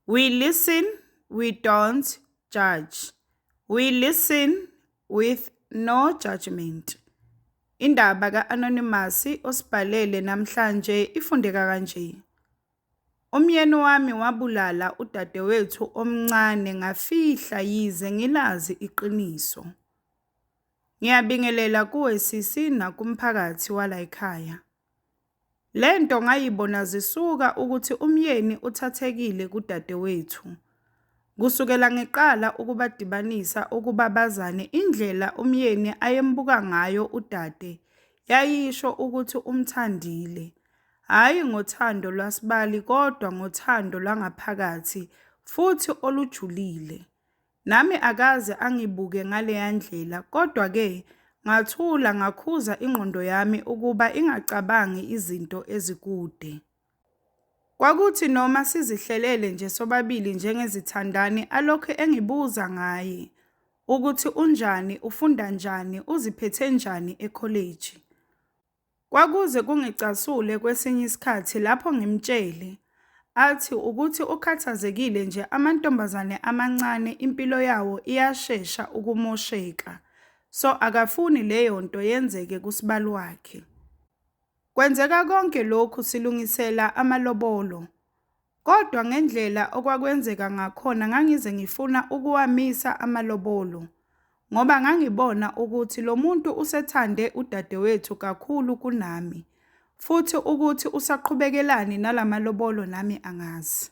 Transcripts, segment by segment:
We listen, we don't judge. We listen with no judgment. Indaba ka-Anonymous osibhalele namhlanje ifundeka kanje. Umyeni wami wabulala udadewethu omncane ngafihla yize ngilazi iqiniso. Ngiyabingelela kuwe sisi nakumphakathi walayikhaya. Le nto ngayibona zisuka ukuthi umyeni uthathekile kudadewethu. Kusukela ngiqala ukubadibanisa ukuba bazane indlela umyeni ayembuka ngayo udade yayisho ukuthi umthandile. Hhayi ngothando lwasibali kodwa ngothando lwangaphakathi futhi olujulile. Nami akaze angibuke ngaleya ndlela, kodwa-ke ngathula ngakhuza ingqondo yami ukuba ingacabangi izinto ezikude. Kwakuthi noma sizihlelele nje sobabili njengezithandani alokhu engibuza ngaye ukuthi unjani, ufunda njani, uziphethe njani ekholeji. Kwakuze kungicasule kwesinye isikhathi lapho ngimtshele athi ukuthi ukhathazekile nje amantombazane amancane impilo yawo iyashesha ukumosheka so akafuni leyo nto yenzeke kusibali wakhe. Kwenzeka konke lokhu silungisela amalobolo. Kodwa ngendlela okwakwenzeka ngakhona ngangize ngifuna ukuwamisa amalobolo ngoba ngangibona ukuthi lo muntu usethande udadewethu kakhulu kunami futhi ukuthi usaqhubekelani nalamalobolo nami angazi.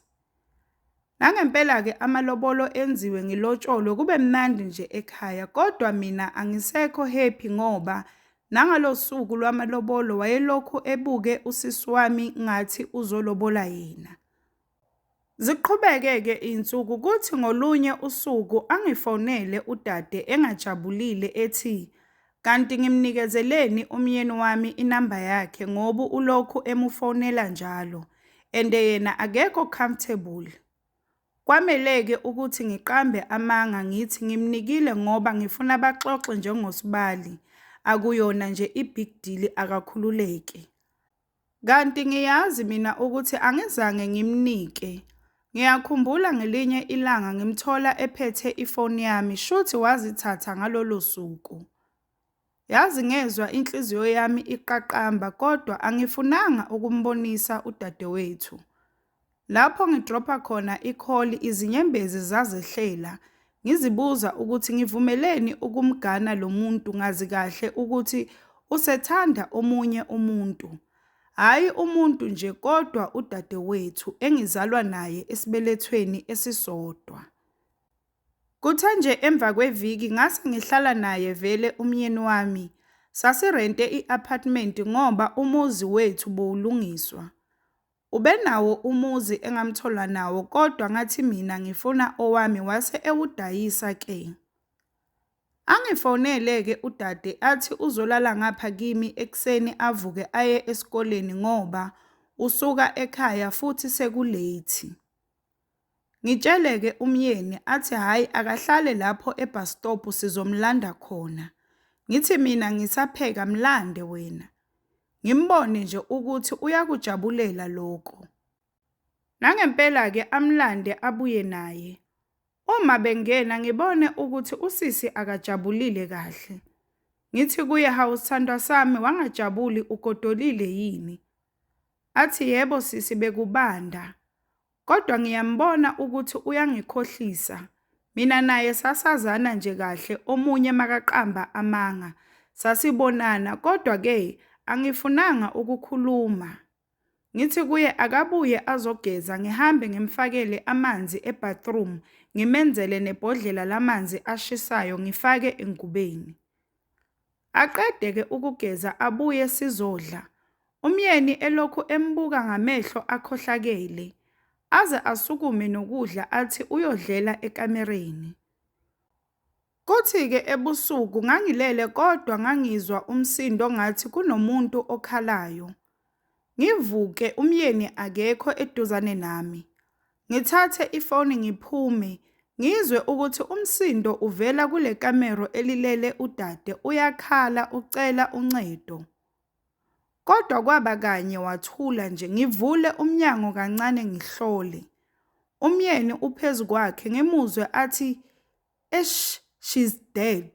Nangempela-ke amalobolo enziwe ngilotsholwe kube mnandi nje ekhaya kodwa mina angisekho happy ngoba Nangalosuku lwamalobolo wayelokhu ebuke usisi wami ngathi uzolobola yena. Ziqhubeke-ke iy'nsuku kuthi ngolunye usuku angifonele udade engajabulile ethi kanti ngimnikezeleni umyeni wami inamba yakhe ngoba ulokhu emufonela njalo and yena akekho comfortable. Kwamele-ke ukuthi ngiqambe amanga ngithi ngimnikile ngoba ngifuna baxoxe njengosibali, akuyona nje i-big deal akakhululeke. Kanti ngiyazi mina ukuthi angizange ngimnike. Ngiyakhumbula ngelinye ilanga ngimthola ephethe ifoni yami shuthi wazithatha ngalolo suku. Yazi ngezwa inhliziyo yami iqaqamba kodwa angifunanga ukumbonisa udadewethu. Lapho ngidropha khona ikholi izinyembezi zazehlela ngizibuza ukuthi ngivumeleni ukumgana lo muntu ngazi kahle ukuthi usethanda omunye umuntu. Hhayi umuntu nje kodwa udadewethu engizalwa naye esibelethweni esisodwa. Kuthe nje emva kweviki ngase ngihlala naye vele umyeni wami. Sasirente i-apartment ngoba umuzi wethu buwulungiswa. Ubenawo umuzi engamthola nawo kodwa ngathi mina ngifuna owami wase ewudayisa ke. Angifonele-ke udade athi uzolala ngapha kimi ekuseni avuke aye esikoleni ngoba usuka ekhaya futhi sekuleyithi. Ngitshele ke umyeni athi hhayi akahlale lapho ebhastobhu sizomlanda khona. Ngithi mina ngisapheka mlande wena. Ngimbone nje ukuthi uyakujabulela lokho. Nangempela ke amlande abuye naye. Uma bengena ngibone ukuthi usisi akajabulile kahle. Ngithi kuye hawu sithandwa sami wangajabuli ugodolile yini? Athi yebo sisi bekubanda. Kodwa ngiyambona ukuthi uyangikhohlisa. Mina naye sasazana nje kahle omunye makaqamba amanga. Sasibonana kodwa ke angifunanga ukukhuluma. Ngithi kuye akabuye azogeza ngihambe ngimfakele amanzi ebathroom ngimenzele nebhodlela lamanzi ashisayo ngifake engubeni. Aqede ke ukugeza abuye sizodla. Umyeni elokhu embuka ngamehlo akhohlakele. Aze asukume nokudla athi uyodlela ekamereni. Kuthi ke ebusuku ngangilele kodwa ngangizwa umsindo ngathi kunomuntu okhalayo. Ngivuke umyeni akekho eduzane nami. Ngithathe ifoni ngiphume, ngizwe ukuthi umsindo uvela kule kamero elilele udade uyakhala ucela uncedo. Kodwa kwaba kanye wathula nje, ngivule umnyango kancane ngihlole. Umyeni uphezu kwakhe ngimuzwe athi, Eish she's dead.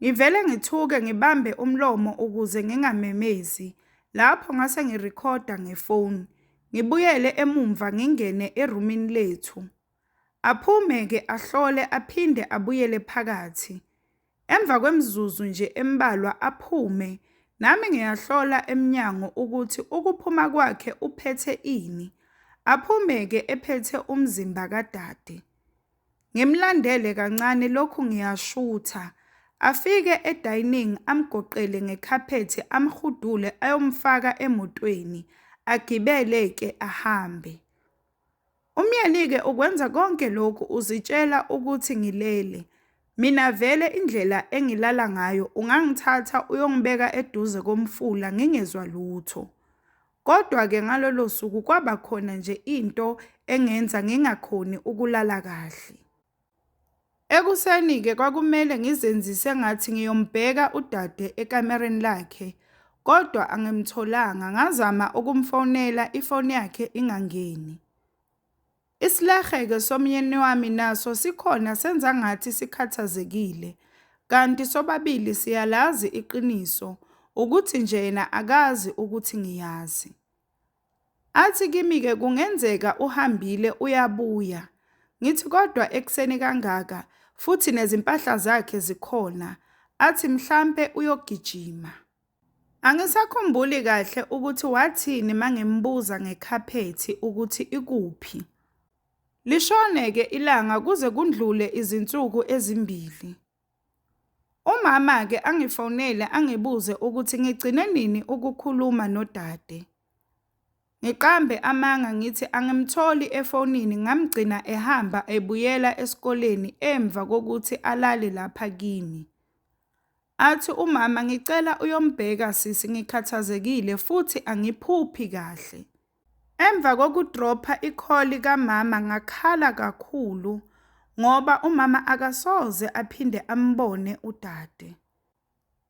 Ngivele ngithuke ngibambe umlomo ukuze ngingamemezi. Lapho ngase ngirekhoda ngefoni. Ngibuyele emumva ngingene erumini lethu. Aphume-ke ahlole aphinde abuyele phakathi. Emva kwemizuzu nje embalwa aphume. Nami ngiyahlola emnyango ukuthi ukuphuma kwakhe uphethe ini. Aphume-ke ephethe umzimba kadade. Ngimlandele kancane lokhu ngiyashutha. Afike edining amgoqele ngekhaphethi amhudule ayomfaka emotweni agibele ke ahambe. Umyeni ke ukwenza konke lokhu uzitshela ukuthi ngilele. Mina vele indlela engilala ngayo ungangithatha uyongibeka eduze komfula ngingezwa lutho. Kodwa-ke ngalolo suku kwaba khona nje into engenza ngingakhoni ukulala kahle. Ekuseni-ke kwakumele ngizenzise ngathi ngiyombheka udade ekamereni lakhe, kodwa angimtholanga. Ngazama ukumfonela ifoni yakhe ingangeni. Isilahe-ke somyeni wami naso sikhona senza ngathi sikhathazekile kanti sobabili siyalazi iqiniso ukuthi nje yena akazi ukuthi ngiyazi. Athi kimi-ke kungenzeka uhambile uyabuya, ngithi kodwa ekuseni kangaka futhi nezimpahla zakhe zikhona, athi mhlampe uyogijima. Angisakhumbuli kahle ukuthi wathini mangimbuza ngekhaphethi ukuthi ikuphi. Lishone-ke ilanga kuze kundlule izinsuku ezimbili. Umama-ke angifonele angibuze ukuthi ngigcine nini ukukhuluma nodade. Ngiqambe amanga ngithi angimtholi efonini ngamgcina ehamba ebuyela esikoleni emva kokuthi alale lapha kimi. Athi umama ngicela uyombheka sisi ngikhathazekile futhi angiphuphi kahle. Emva kokudropha ikholi kamama ngakhala kakhulu ngoba umama akasoze aphinde ambone udade.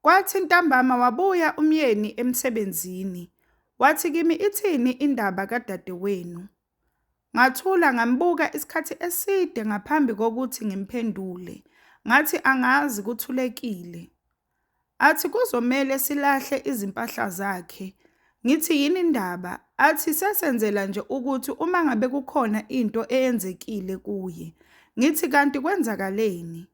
Kwathi ntambama wabuya umyeni emsebenzini. Wathi kimi ithini indaba kadadewenu. Ngathula ngambuka isikhathi eside ngaphambi kokuthi ngimphendule. Ngathi angazi kuthulekile. Athi kuzomele silahle izimpahla zakhe. Ngithi yini indaba? Athi sesenzela nje ukuthi uma ngabe kukhona into eyenzekile kuye. Ngithi kanti kwenzakaleni?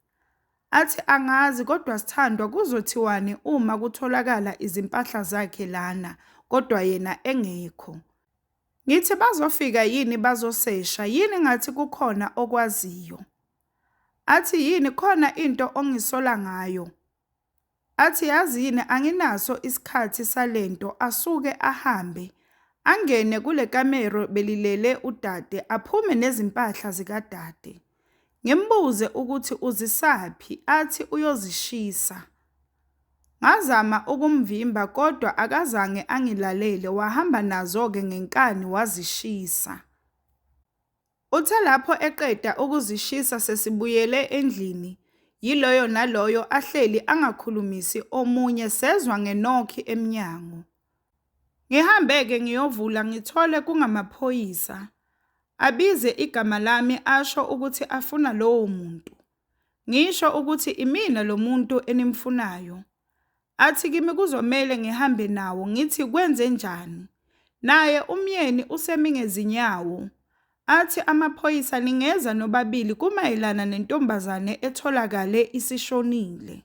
Athi angazi kodwa sithandwa kuzothiwani uma kutholakala izimpahla zakhe lana kodwa yena engekho. Ngithi bazofika yini bazosesha yini ngathi kukhona okwaziyo. Athi yini khona into ongisola ngayo. Athi yazi yini anginaso isikhathi salento asuke ahambe. Angene kule kamero belilele udade aphume nezimpahla zikadade. Ngimbuze ukuthi uzisaphi athi uyozishisa. Ngazama ukumvimba kodwa akazange angilalele wahamba nazo-ke ngenkani wazishisa. Uthe lapho eqeda ukuzishisa sesibuyele endlini yiloyo naloyo ahleli angakhulumisi omunye sezwa ngenokhi emnyango. Ngihambe-ke ngiyovula ngithole kungamaphoyisa. Abize igama lami asho ukuthi afuna lowo muntu. Ngisho ukuthi imina lo muntu enimfunayo. Athi kimi kuzomele ngihambe nawo ngithi kwenze njani. Naye umyeni usemi ngezinyawo. Athi amaphoyisa ningeza nobabili kumayelana nentombazane etholakale isishonile.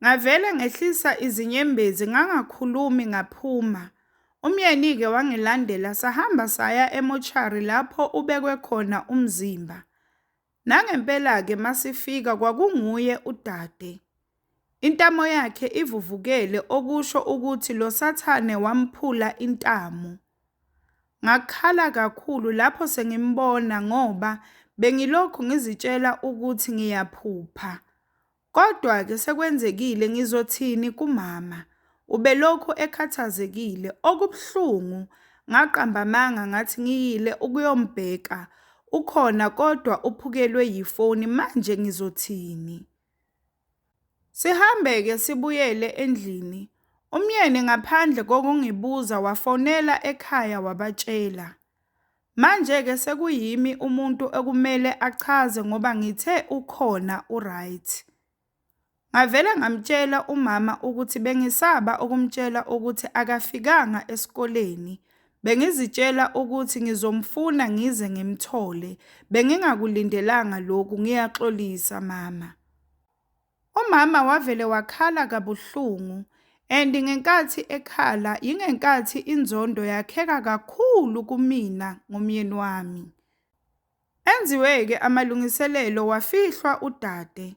Ngavele ngehlisa izinyembezi ngangakhulumi ngaphuma. Umyeni-ke wangilandela sahamba saya emochari lapho ubekwe khona umzimba. Nangempela-ke masifika kwakunguye udade. Intamo yakhe ivuvukele okusho ukuthi lo sathane wamphula intamo. Ngakhala kakhulu lapho sengimbona ngoba bengilokhu ngizitshela ukuthi ngiyaphupha. Kodwa-ke sekwenzekile, ngizothini kumama? Ubelokhu ekhathazekile. Okubuhlungu, ngaqamba amanga ngathi ngiyile ukuyombheka. Ukhona kodwa uphukelwe yifoni, manje ngizothini? Sihambe-ke sibuyele endlini. Umyeni ngaphandle kokungibuza wafonela ekhaya wabatshela. Manje-ke sekuyimi umuntu ekumele achaze ngoba ngithe ukhona uright. Ngavele ngamtshela umama ukuthi bengisaba ukumtshela ukuthi akafikanga esikoleni. Bengizitshela ukuthi ngizomfuna ngize ngimthole. Bengingakulindelanga lokhu, ngiyaxolisa mama. Umama wavele wakhala kabuhlungu and ngenkathi ekhala yingenkathi inzondo yakheka kakhulu kumina ngomyeni wami. Enziwe-ke amalungiselelo wafihlwa udade.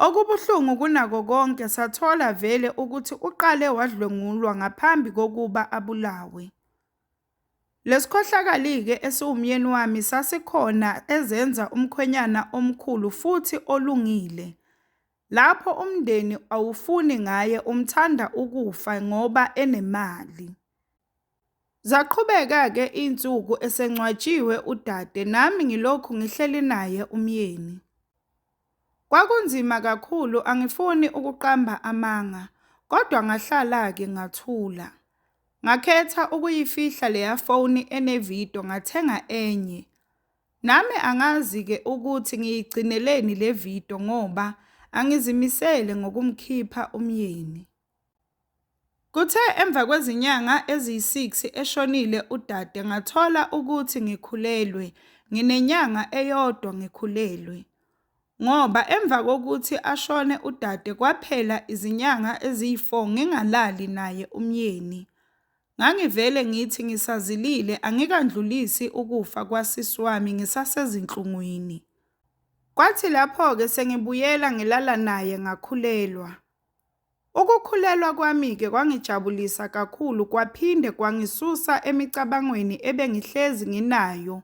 Okubuhlungu kunako konke sathola vele ukuthi uqale wadlwengulwa ngaphambi kokuba abulawe. Lesikhohlakali-ke esiwumyeni wami sasikhona ezenza umkhwenyana omkhulu futhi olungile. Lapho umndeni awufuni ngaye umthanda ukufa ngoba enemali. Zaqhubeka-ke iy'nsuku esengcwatshiwe udade nami ngilokhu ngihleli naye umyeni. Kwakunzima kakhulu, angifuni ukuqamba amanga, kodwa ngahlala-ke ngathula. Ngakhetha ukuyifihla leya foni enevidiyo ngathenga enye. Nami angazi-ke ukuthi ngiyigcineleni le vidiyo ngoba angizimisele ngokumkhipha umyeni. Kuthe emva kwezinyanga eziyi-6 eshonile udade ngathola ukuthi ngikhulelwe, nginenyanga eyodwa ngikhulelwe ngoba emva kokuthi ashone udade kwaphela izinyanga eziyi-4 ngingalali naye umyeni. Ngangivele ngithi ngisazilile angikandlulisi ukufa kwasisi wami ngisasezinhlungwini. Kwathi lapho-ke sengibuyela ngilala naye ngakhulelwa. Ukukhulelwa kwami-ke kwangijabulisa kakhulu kwaphinde kwangisusa emicabangweni ebengihlezi nginayo,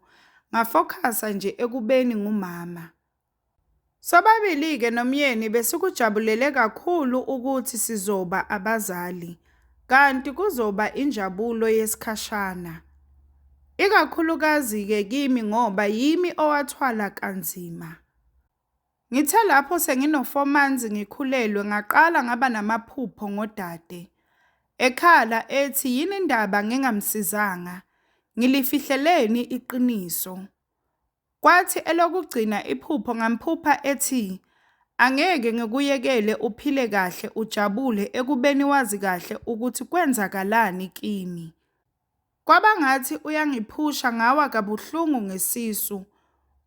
ngafokhasa nje ekubeni ngumama. Sobabili-ke nomyeni besikujabulele kakhulu ukuthi sizoba abazali, kanti kuzoba injabulo yesikhashana. Ikakhulukazi-ke kimi ngoba yimi owathwala kanzima. Ngithe lapho sengino-four months ngikhulelwe ngaqala ngaba namaphupho ngodade. Ekhala ethi yini indaba ngingamsizanga, ngilifihleleni iqiniso. Kwathi elokugcina iphupho ngamphupha ethi angeke ngikuyekele uphile kahle ujabule ekubeni wazi kahle ukuthi kwenzakalani kimi. Kwabangathi uyangiphusha ngawa kabuhlungu ngesisu.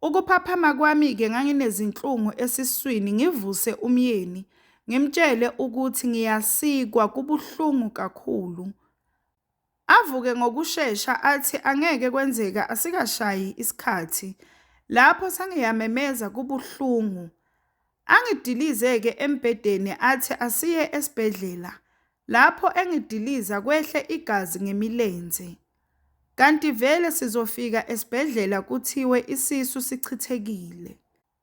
Ukuphaphama kwami-ke nganginezinhlungu esiswini ngivuse umyeni ngimtshele ukuthi ngiyasikwa kubuhlungu kakhulu. Avuke ngokushesha athi angeke kwenzeka asikashayi isikhathi. Lapho sengiyamemeza kubuhlungu. Angidilize-ke embhedeni athi asiye esibhedlela. Lapho engidiliza kwehle igazi ngemilenze. Kanti vele sizofika esibhedlela kuthiwe isisu sichithekile.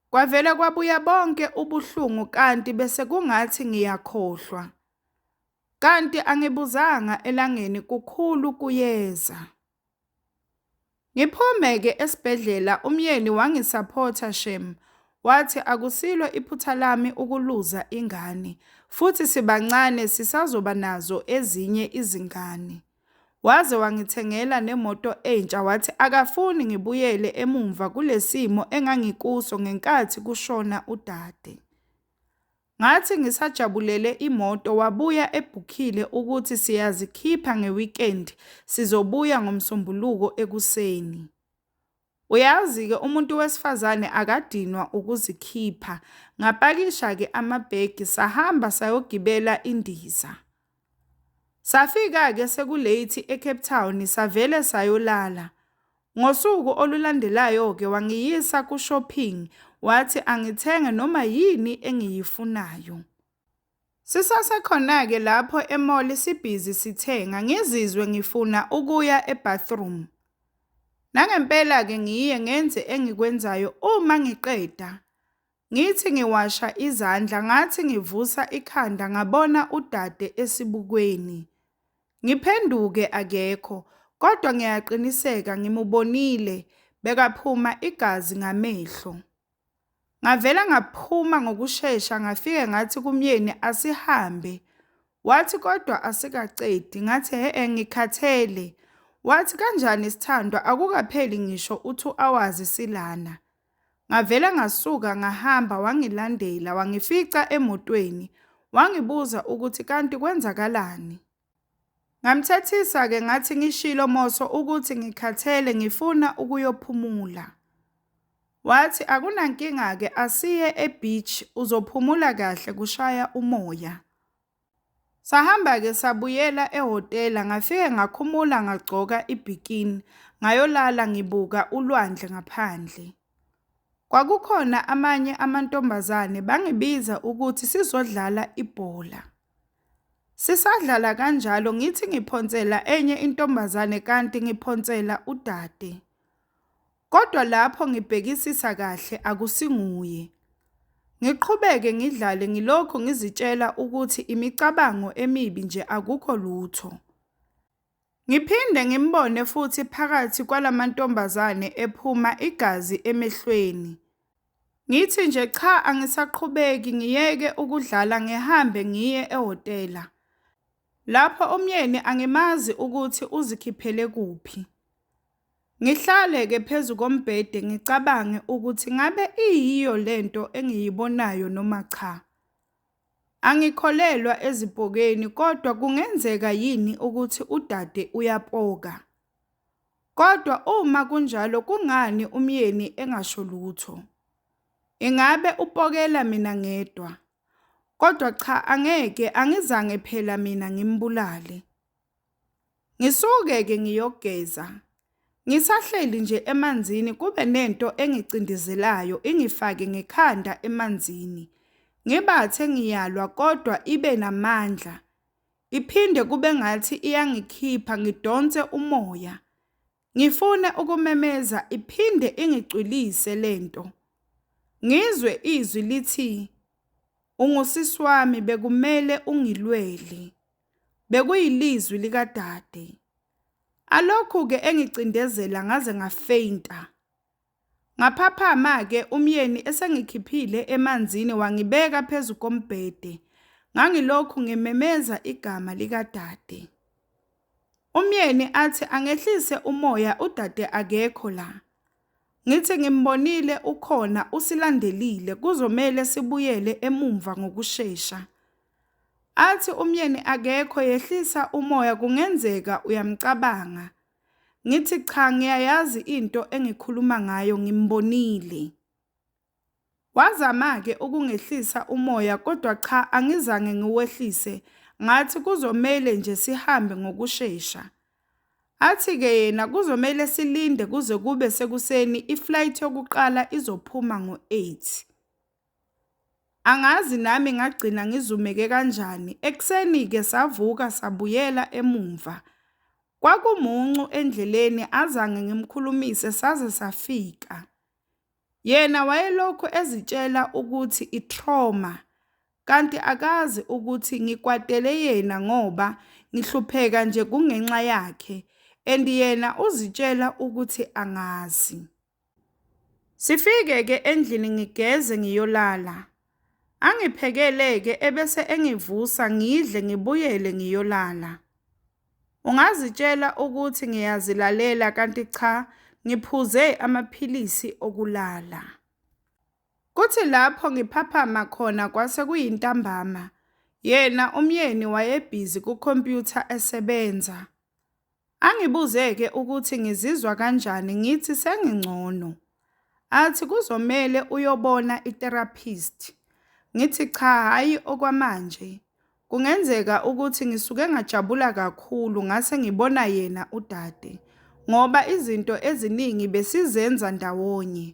Kwavele kwabuya bonke ubuhlungu kanti bese kungathi ngiyakhohlwa. Kanti angibuzanga elangeni kukhulu kuyeza. Ngiphume-ke esibhedlela umyeni wangisaphotha shem, wathi akusilo iphutha lami ukuluza ingane futhi sibancane sisazoba nazo ezinye izingane. Waze wangithengela nemoto entsha wathi akafuni ngibuyele emumva kulesimo engangikuso ngenkathi kushona udade. Ngathi ngisajabulele imoto wabuya ebhukhile ukuthi siyazikhipha ngeweekend sizobuya ngoMsombuluko ekuseni. Uyazi-ke umuntu wesifazane akadinwa ukuzikhipha. Ngapakisha-ke amabhegi sahamba sayogibela indiza. Safika-ke seku-late eCape Town savele sayolala. Ngosuku olulandelayo-ke wangiyisa ku-shopping wathi angithenge noma yini engiyifunayo. Sisasekhona-ke lapho e-mall sibhizi sithenga ngizizwe ngifuna ukuya e-bathroom. Nangempela-ke ngiye ngenze engikwenzayo uma ngiqeda Ngithi ngiwasha izandla ngathi ngivusa ikhanda ngabona udade esibukweni. Ngiphenduke akekho kodwa ngiyaqiniseka ngimubonile bekaphuma igazi ngamehlo. Ngavela ngaphuma ngokushesha ngafike ngathi kumyeni asihambe. Wathi kodwa asikacedi ngathi he ngikhathele. Wathi kanjani sithandwa akukapheli ngisho u-2 hours silana. Ngavele ngasuka ngahamba wangilandela wangifica emotweni wangibuza ukuthi kanti kwenzakalani. Ngamthethisa-ke ngathi ngishilo Moso ukuthi ngikhathele ngifuna ukuyophumula. Wathi akunankinga-ke asiye e-beach uzophumula kahle kushaya umoya. Sahamba-ke sabuyela ehhotela, ngafike ngakhumula ngagcoka ibhikini, ngayolala ngibuka ulwandle ngaphandle. Kwakukhona amanye amantombazane bangibiza ukuthi sizodlala ibhola. Sisadlala kanjalo ngithi ngiphonsela enye intombazane kanti ngiphonsela udade. Kodwa lapho ngibhekisisa kahle akusinguye. Ngiqhubeke ngidlale ngilokhu ngizitshela ukuthi imicabango emibi nje akukho lutho. Ngiphinde ngimbone futhi phakathi kwalamantombazane ephuma igazi emehlweni. Ngithi nje cha angisaqhubeki ngiyeke ukudlala ngihambe ngiye ehhotela. Lapho umyeni angimazi ukuthi uzikhiphele kuphi. Ngihlale ke phezu kombhede ngicabange ukuthi ngabe iyiyo lento engiyibonayo noma cha. Angikholelwa ezipokeni kodwa kungenzeka yini ukuthi udade uyapoka. Kodwa uma kunjalo kungani umyeni engasho lutho? Ingabe upokela mina ngedwa? Kodwa cha angeke angizange phela mina ngimbulale. Ngisuke-ke ngiyogeza. Ngisahleli nje emanzini kube nento engicindizelayo ingifake ngekhanda emanzini. Ngibathe ngiyalwa kodwa ibe namandla. Iphinde kube ngathi iyangikhipha ngidonse umoya. Ngifuna ukumemeza iphinde ingicwilise lento. Ngizwe izwi lithi ungusisi wami bekumele ungilweli. Bekuyilizwi likadade. Alokhu ke engicindezela ngaze ngafeinta. Ngaphaphama-ke umyeni esengikhiphile emanzini wangibeka phezu kombhede. Ngangilokhu ngimemeza igama likadade. Umyeni athi angehlise umoya udade akekho la. Ngithi ngimbonile ukhona usilandelile kuzomele sibuyele emumva ngokushesha. Athi umyeni akekho yehlisa umoya kungenzeka uyamcabanga. Ngithi cha ngiyayazi into engikhuluma ngayo ngimbonile. Wazama-ke ukungehlisa umoya kodwa cha angizange ngiwehlise ngathi kuzomele nje sihambe ngokushesha. Athi-ke yena kuzomele silinde kuze kube sekuseni iflight yokuqala izophuma ngo-8. Angazi nami ngagcina ngizumeke kanjani. Ekuseni-ke savuka sabuyela emumva. Kwakumuncu endleleni azange ngimkhulumise saze safika. Yena wayelokhu ezitshela ukuthi i-trauma kanti akazi ukuthi ngikwatele yena ngoba ngihlupheka nje kungenxa yakhe and yena uzitshela ukuthi angazi. Sifike ke endlini ngigeze ngiyolala. Angiphekele ke ebese engivusa ngidle ngibuyele ngiyolala. Ungazitshela ukuthi ngiyazilalela kanti cha ngiphuze amaphilisi okulala. Kuthi lapho ngiphaphama khona kwase kuyintambama. Yena umyeni wayebhizi kukhompyutha esebenza. Angibuze-ke ukuthi ngizizwa kanjani ngithi sengingcono. Athi kuzomele uyobona i-therapist. Ngithi cha hhayi okwamanje. Kungenzeka ukuthi ngisuke ngajabula kakhulu ngase ngibona yena udade ngoba izinto eziningi besizenza ndawonye.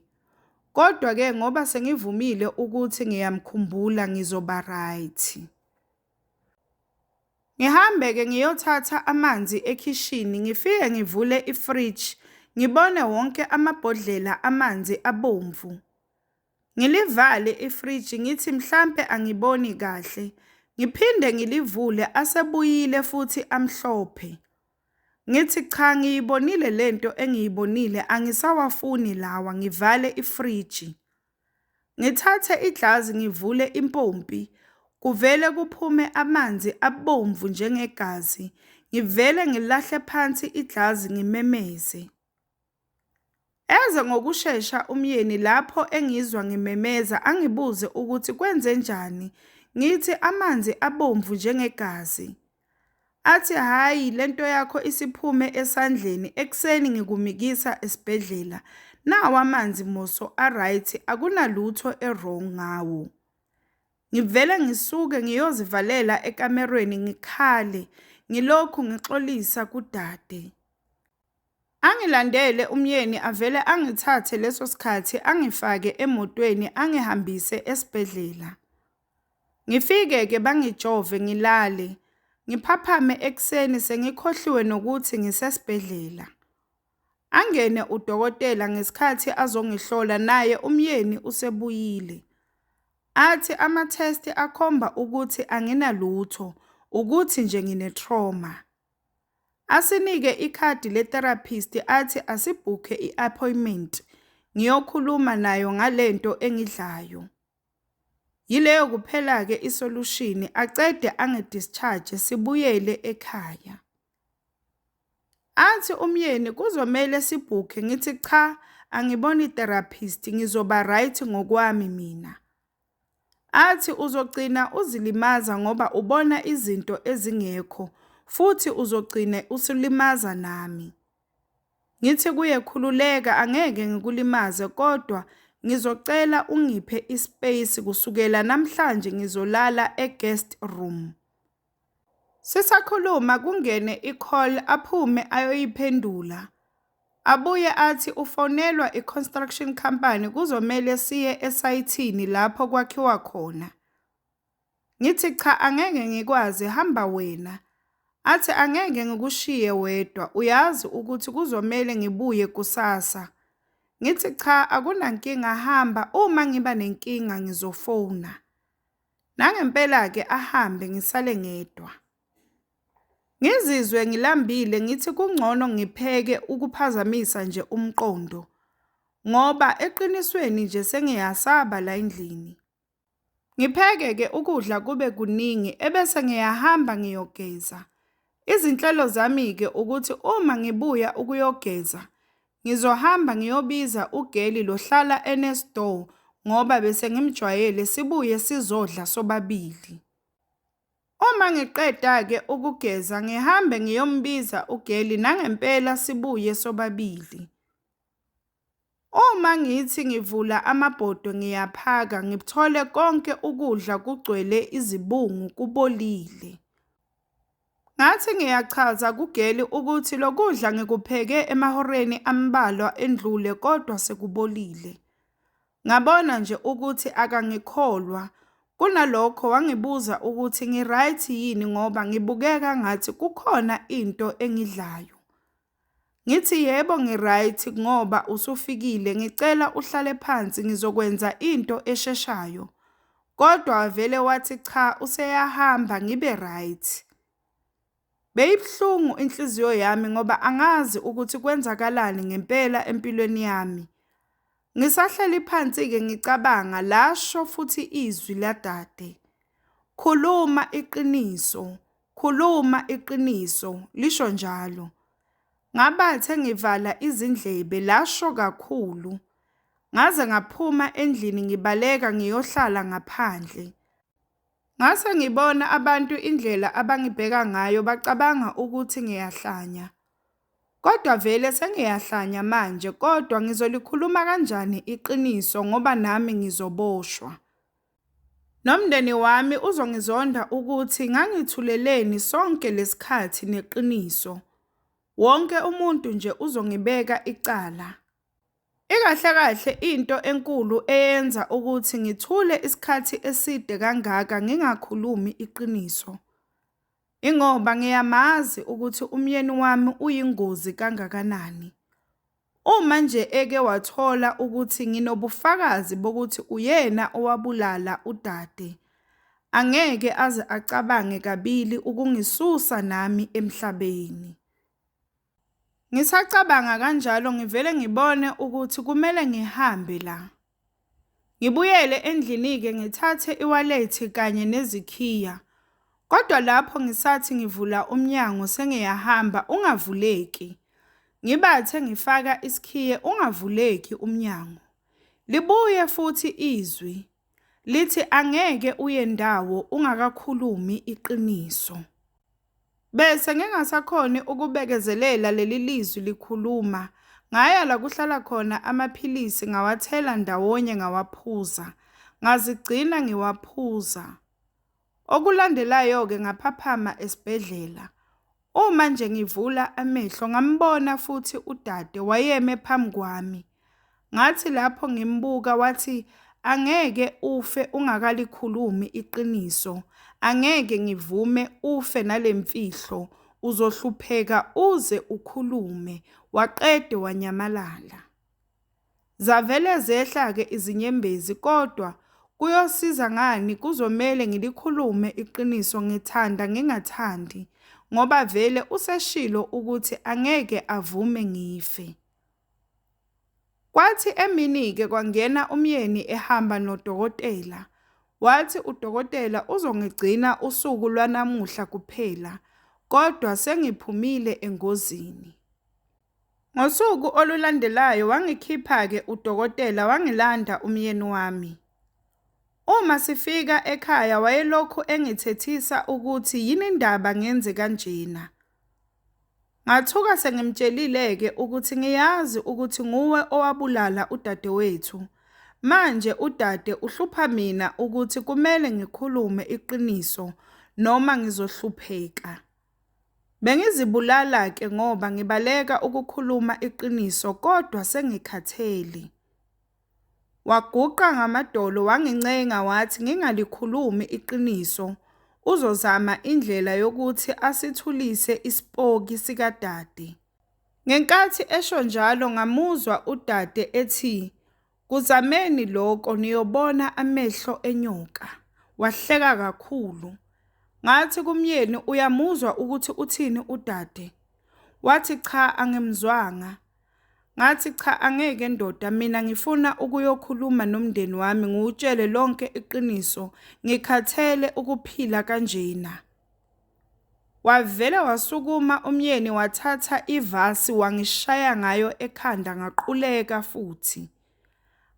Kodwa-ke ngoba sengivumile ukuthi ngiyamkhumbula ngizoba right. Ngihambe-ke ngiyothatha amanzi ekhishini, ngifike ngivule ifriji, ngibone wonke amabhodlela amanzi abomvu. Ngilivale ifriji ngithi mhlampe angiboni kahle. Ngiphinde ngilivule asebuyile futhi amhlophe. Ngithi cha ngiyibonile lento engiyibonile angisawafuni lawa ngivale ifriji. Ngithathe ijazi ngivule impompi, kuvele kuphume amanzi abomvu njengegazi. Ngivele ngilahle phansi ijazi ngimemeze. Eze ngokushesha umyeni lapho engizwa ngimemeza angibuze ukuthi kwenzenjani, ngithi amanzi abomvu njengegazi. Athi hhayi le nto yakho isiphume esandleni ekuseni ngikumikisa esibhedlela. Nawa amanzi Moso a-right akunalutho e-wrong ngawo. Ngivele ngisuke ngiyozivalela ekamerweni ngikhale ngilokhu ngixolisa kudade. Angilandele umyeni avele angithathe leso sikhathi angifake emotweni angihambise esibhedlela. Ngifike ke bangijove ngilale, ngiphaphame ekuseni sengikhohliwe nokuthi ngisesibhedlela. Angene udokotela ngesikhathi azongihlola naye umyeni usebuyile. Athi ama-test akhomba ukuthi anginalutho, ukuthi nje ngine-trauma. Asinike ikhadi le-therapist athi asibhukhe i-appointment ngiyokhuluma nayo ngalento engidlayo. Yileyo kuphela-ke isolushini, acede angi-discharge sibuyele ekhaya. Athi umyeni kuzomele sibhukhe ngithi cha angiboni i-therapist ngizoba right ngokwami mina. Athi uzogcina uzilimaza ngoba ubona izinto ezingekho futhi uzogcine usulimaza nami. Ngithi kuye khululeka angeke ngikulimaze kodwa ngizocela ungiphe ispace kusukela namhlanje ngizolala eguest room. Sisakhuluma kungene icall aphume ayoyiphendula. Abuye athi ufonelwa iconstruction company kuzomele siye esayithini lapho kwakhiwa khona. Ngithi cha angeke ngikwazi hamba wena. Athi angeke ngikushiye wedwa uyazi ukuthi kuzomele ngibuye kusasa. Ngithi cha akunankinga hamba uma ngiba nenkinga ngizofona. Nangempela-ke ahambe ngisale ngedwa. Ngizizwe ngilambile ngithi kungcono ngipheke ukuphazamisa nje umqondo ngoba eqinisweni nje sengiyasaba la endlini. Ngipheke-ke ukudla kube kuningi ebese ngiyahamba ngiyogeza. Izinhlelo zami-ke ukuthi uma ngibuya ukuyogeza, ngizohamba ngiyobiza ugeli lohlala enesdoor ngoba bese ngimjwayele sibuye sizodla sobabili. Uma ngiqeda-ke ukugeza ngihambe ngiyombiza ugeli nangempela sibuye sobabili. Uma ngithi ngivula amabhodwe ngiyaphaka ngithole konke ukudla kugcwele izibungu kubolile. Ngathi ngiyachaza kugeli ukuthi lokudla ngikupheke emahoreni ambalwa endlule kodwa sekubolile. Ngabona nje ukuthi akangikholwa. Kunalokho wangibuza ukuthi ngi-right yini ngoba ngibukeka ngathi kukhona into engidlayo. Ngithi yebo ngiryt ngoba usufikile ngicela uhlale phansi ngizokwenza into esheshayo kodwa wavele wathi cha useyahamba ngibe ryt. Beyibuhlungu inhliziyo yami ngoba angazi ukuthi kwenzakalani ngempela empilweni yami. Ngisahleli phansi-ke ngicabanga, lasho futhi izwi ladade. Khuluma iqiniso, khuluma iqiniso, lisho njalo. Ngabathe ngivala izindlebe, lasho kakhulu. Ngaze ngaphuma endlini ngibaleka ngiyohlala ngaphandle. Ngase ngibona abantu indlela abangibheka ngayo bacabanga ukuthi ngiyahlanya. Kodwa vele sengiyahlanya manje kodwa ngizolikhuluma kanjani iqiniso ngoba nami ngizoboshwa. Nomndeni wami uzongizonda ukuthi ngangithuleleni sonke lesikhathi neqiniso. Wonke umuntu nje uzongibeka icala. Ikahle kahle into enkulu eyenza ukuthi ngithule isikhathi eside kangaka ngingakhulumi iqiniso. Ingoba ngiyamazi ukuthi umyeni wami uyingozi kangakanani. Uma nje eke wathola ukuthi nginobufakazi bokuthi uyena owabulala udade, angeke aze acabange kabili ukungisusa nami emhlabeni. Ngisacabanga kanjalo ngivele ngibone ukuthi kumele ngihambe la. Ngibuyele endlini-ke ngithathe iwalethi kanye nezikhiya. Kodwa lapho ngisathi ngivula umnyango sengiyahamba ungavuleki. Ngibathe ngifaka isikhiye ungavuleki umnyango. Libuye futhi izwi. Lithi angeke uye ndawo ungakakhulumi iqiniso. Bese ngingasakhoni ukubekezelela leli lizwi likhuluma. Ngaya la kuhlala khona amaphilisi ngawathela ndawonye ngawaphuza. Ngazigcina ngiwaphuza. Okulandelayo-ke ngaphaphama esibhedlela. Uma nje ngivula amehlo ngambona futhi udade wayeme phambi kwami. Ngathi lapho ngimbuka wathi angeke ufe ungakalikhulumi iqiniso. Angeke ngivume ufe nalemfihlo uzohlupheka uze ukhulume waqede wanyamalala. Zavele zehla ke izinyembezi kodwa kuyosiza ngani kuzomele ngilikhulume iqiniso ngithanda ngingathandi ngoba vele useshilo ukuthi angeke avume ngife. Kwathi emini-ke kwangena umyeni ehamba nodokotela. Wathi udokotela uzongigcina usuku lwanamuhla kuphela, kodwa sengiphumile engozini. Ngosuku olulandelayo wangikhipha-ke udokotela wangilanda umyeni wami. Uma sifika ekhaya wayelokhu engithethisa ukuthi yini ndaba ngenze kanjena. Ngathuka sengimtshelile-ke ukuthi ngiyazi ukuthi nguwe owabulala udadewethu. Manje udade uhlupha mina ukuthi kumele ngikhulume iqiniso noma ngizohlupheka. Bengizibulala-ke ngoba ngibaleka ukukhuluma iqiniso kodwa sengikhathele. Waguqa ngamadolo wangincenga wathi ngingalikhulumi iqiniso uzozama indlela yokuthi asithulise isipoki sikadade. Ngenkathi esho njalo ngamuzwa udade ethi, Kuzameni loko niyobona amehlo enyoka. Wahleka kakhulu. Ngathi kumyeni, Uyamuzwa ukuthi uthini udade? Wathi, Cha, angimzwanga. Ngathi cha angeke ndoda mina ngifuna ukuyokhuluma nomndeni wami ngiwutshele lonke iqiniso ngikhathele ukuphila kanjena. Wavele wasukuma umyeni wathatha ivasi wangishaya ngayo ekhanda ngaquleka futhi.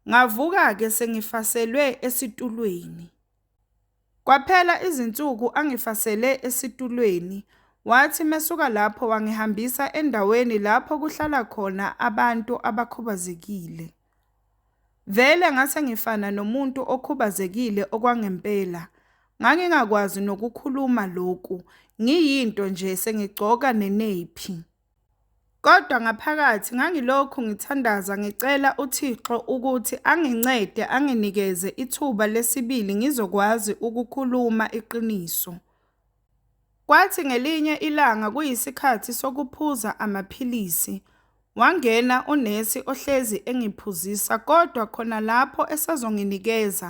Ngavuka-ke sengifaselwe esitulweni. Kwaphela izinsuku angifasele esitulweni, wathi mesuka lapho wangihambisa endaweni lapho kuhlala khona abantu abakhubazekile. Vele ngase ngifana nomuntu okhubazekile okwangempela, ngangingakwazi nokukhuluma lokhu ngiyinto nje sengigcoka neneyiphi. Kodwa ngaphakathi ngangilokhu ngithandaza ngicela uThixo ukuthi angincede anginikeze ithuba lesibili ngizokwazi ukukhuluma iqiniso. Kwathi ngelinye ilanga kuyisikhathi sokuphuza amaphilisi. Wangena unesi ohlezi engiphuzisa kodwa khona lapho esazonginikeza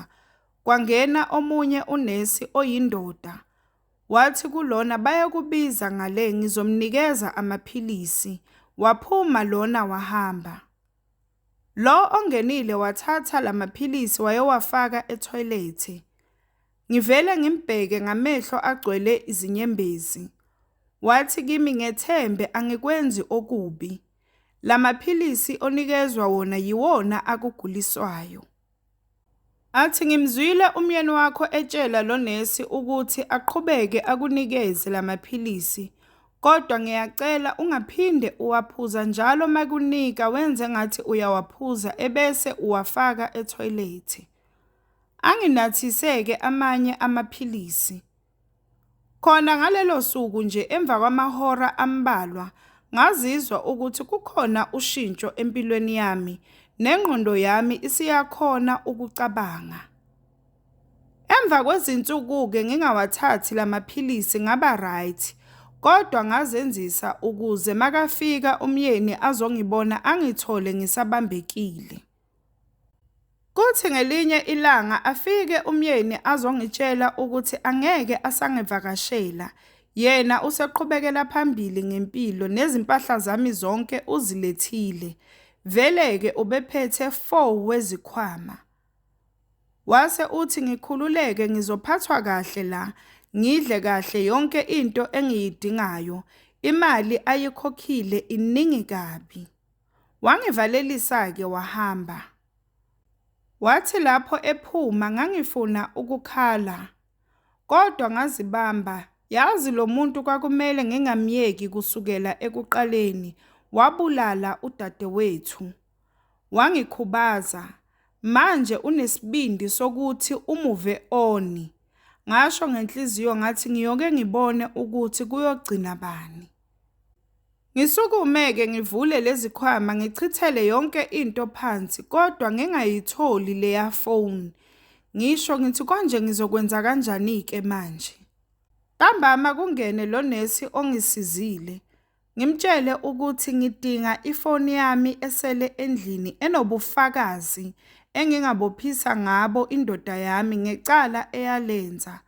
kwangena omunye unesi oyindoda. Wathi kulona bayakubiza ngale ngizomnikeza amaphilisi. Waphuma lona wahamba. Lo ongenile wathatha lamaphilisi wayowafaka ethoyilethi. Ngivele ngimbheke ngamehlo agcwele izinyembezi. Wathi kimi ngethembe angikwenzi okubi. Lamaphilisi onikezwa wona yiwona akuguliswayo. Athi ngimzwile umyeni wakho etshela lo nesi ukuthi aqhubeke akunikeze la maphilisi kodwa ngiyacela ungaphinde uwaphuza njalo makunika wenze ngathi uyawaphuza ebese uwafaka ethoyilethi. Anginathiseke amanye amaphilisi. Khona ngalelo suku nje emva kwamahora ambalwa ngazizwa ukuthi kukhona ushintsho empilweni yami nengqondo yami isiyakhona ukucabanga. Emva kwezinsuku-ke ngingawathathi la maphilisi ngaba right kodwa ngazenzisa ukuze makafika umyeni azongibona angithole ngisabambekile. Kuthi ngelinye ilanga afike umyeni azongitshela ukuthi angeke asangivakashela. Yena useqhubekela phambili ngempilo nezimpahla zami zonke uzilethile. Vele-ke ubephethe four wezikhwama. Wase uthi ngikhululeke ngizophathwa kahle la, ngidle kahle yonke into engiyidingayo. Imali ayikhokhile iningi kabi. Wangivalelisa-ke wahamba. Wathi lapho ephuma ngangifuna ukukhala kodwa ngazibamba yazi lo muntu kwakumele ngingamyeki kusukela ekuqaleni wabulala udadewethu. Wangikhubaza manje unesibindi sokuthi umuve oni. Ngasho ngenhliziyo ngathi ngiyoke ngibone ukuthi kuyogcina bani. Ngisukume-ke ngivule lezikhwama ngichithele yonke into phansi kodwa ngingayitholi leya phone. Ngisho ngithi konje ngizokwenza kanjani-ke manje? Ntambama kungene lo nesi ongisizile. Ngimtshele ukuthi ngidinga ifoni yami esele endlini enobufakazi engingabophisa ngabo indoda yami ngecala eyalenza.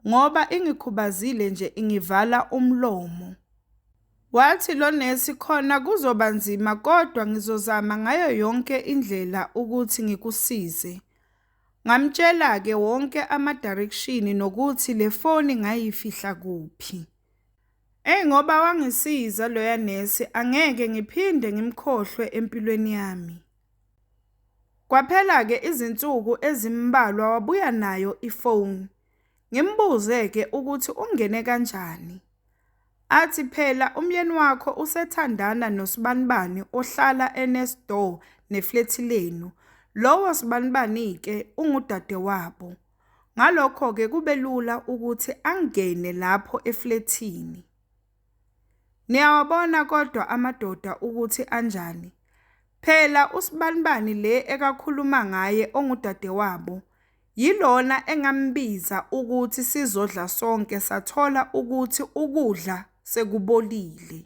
ngoba ingikhubazile nje ingivala umlomo. Wathi lo nesi khona kuzoba nzima kodwa ngizozama ngayo yonke indlela ukuthi ngikusize. Ngamtshela-ke wonke amadirekshini nokuthi le foni ngayifihla kuphi. Eyi ngoba wangisiza loya nesi angeke ngiphinde ngimkhohlwe empilweni yami. Kwaphela-ke izinsuku ezimbalwa wabuya nayo ifoni, ngimbuze-ke ukuthi ungene kanjani. Athi phela umyeni wakho usethandana nosibanibani ohlala e-next door neflethi lenu, lowo sibanibani-ke ungudadewabo. Ngalokho-ke kube lula ukuthi angene lapho eflethini. Niyawabona kodwa amadoda ukuthi anjani. Phela usibanibani le ekakhuluma ngaye ongudadewabo, yilona engambiza ukuthi sizodla sonke sathola ukuthi ukudla sekubolile.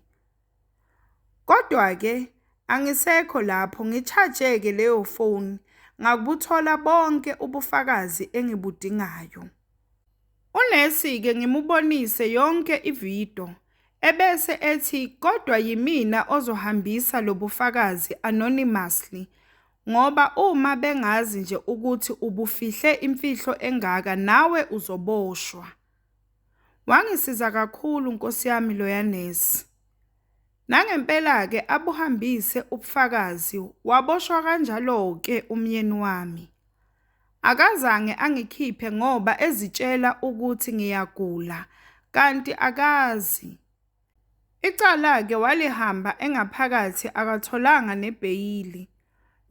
Kodwa-ke angisekho lapho ngi-charge-ke leyo foni, ngakubuthola bonke ubufakazi engibudingayo. Unesi-ke ngimubonise yonke ividiyo, ebese ethi kodwa yimina ozohambisa lo bufakazi anonymously ngoba uma bengazi nje ukuthi ubufihle imfihlo engaka nawe uzoboshwa. Wangisiza kakhulu Nkosi yami loya nesi. Nangempela-ke abuhambise ubufakazi waboshwa kanjalo-ke umyeni wami. Akazange angikhiphe ngoba ezitshela ukuthi ngiyagula kanti akazi. Icala-ke walihamba engaphakathi akatholanga nebheyili.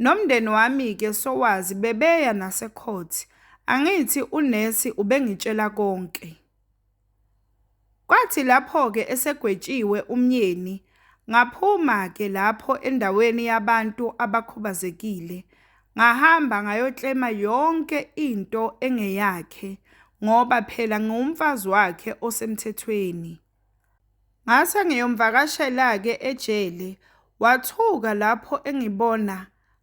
Nomndeni wami-ke sowazi bebeya nasecourt. Angithi unesi ubengitshela konke. Kwathi lapho-ke esegwetshiwe umyeni, ngaphuma-ke lapho endaweni yabantu abakhubazekile, ngahamba ngayoklema yonke into engeyakhe ngoba phela ngiwumfazi wakhe osemthethweni. Ngase ngiyomvakashela-ke ejele, wathuka lapho engibona,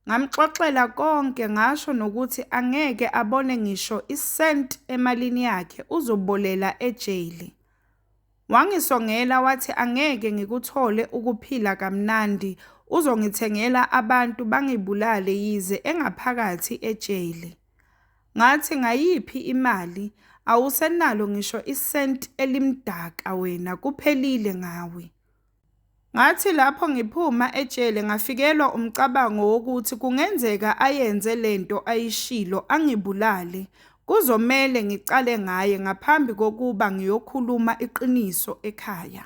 Ngamxoxela konke ngasho nokuthi angeke abone ngisho isenti emalini yakhe uzobolela ejele. Wangisongela wathi angeke ngikuthole ukuphila kamnandi uzongithengela abantu bangibulale yize engaphakathi ejele. Ngathi ngayiphi imali awusenalo ngisho isenti elimdaka wena kuphelile ngawe. Ngathi lapho ngiphuma ejele ngafikelwa umcabango wokuthi kungenzeka ayenze le nto ayishilo angibulale. Kuzomele ngiqale ngaye ngaphambi kokuba ngiyokhuluma iqiniso ekhaya.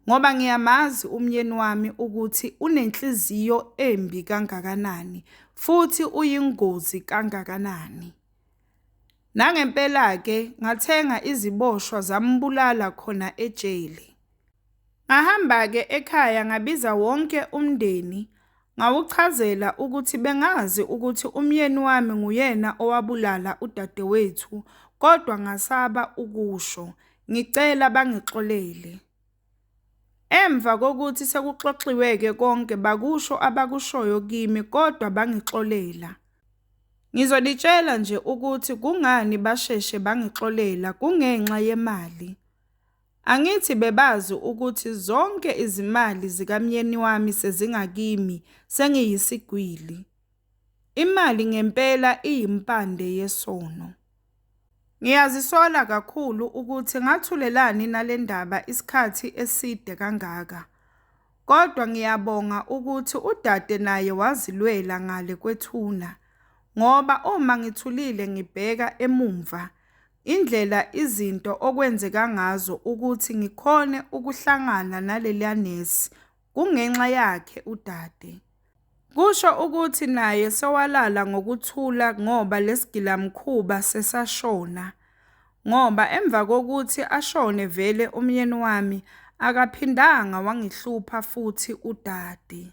Ngoba ngiyamazi umyeni wami ukuthi unenhliziyo embi kangakanani futhi uyingozi kangakanani. Nangempela-ke ngathenga iziboshwa zambulala khona ejele. Ngahamba-ke ekhaya ngabiza wonke umndeni ngawuchazela ukuthi bengazi ukuthi umyeni wami nguyena owabulala udadewethu kodwa ngasaba ukusho. Ngicela bangixolele. Emva kokuthi sekuxoxiwe-ke konke bakusho abakushoyo kimi kodwa bangixolela. Ngizonitshela nje ukuthi kungani basheshe bangixolela kungenxa yemali. Angithi bebazi ukuthi zonke izimali zikamyeni wami sezingakimi sengiyisigwili. Imali ngempela iyimpande yesono. Ngiyazisola kakhulu ukuthi ngathulelani nale ndaba isikhathi eside kangaka. Kodwa ngiyabonga ukuthi udade naye wazilwela ngale kwethuna ngoba uma ngithulile ngibheka emumva indlela izinto okwenzeka ngazo ukuthi ngikhone ukuhlangana naleliya nesi kungenxa yakhe udade. Kusho ukuthi naye sewalala ngokuthula ngoba lesigilamkhuba sesashona ngoba emva kokuthi ashone vele umyeni wami akaphindanga wangihlupha futhi udade.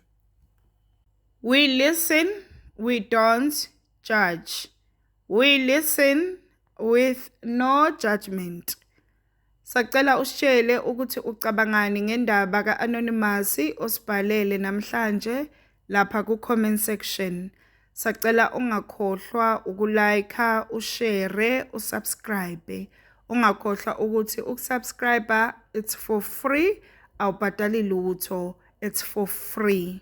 We listen, we don't judge. We listen with no judgement. Sacela usitshele ukuthi ucabangani ngendaba ka-Anonymous osibhalele namhlanje lapha ku-comment section. Sacela ungakhohlwa ukulike, ushare, usubscribe. Ungakhohlwa ukuthi ukusubscribe it's for free, awubhadali lutho, it's for free.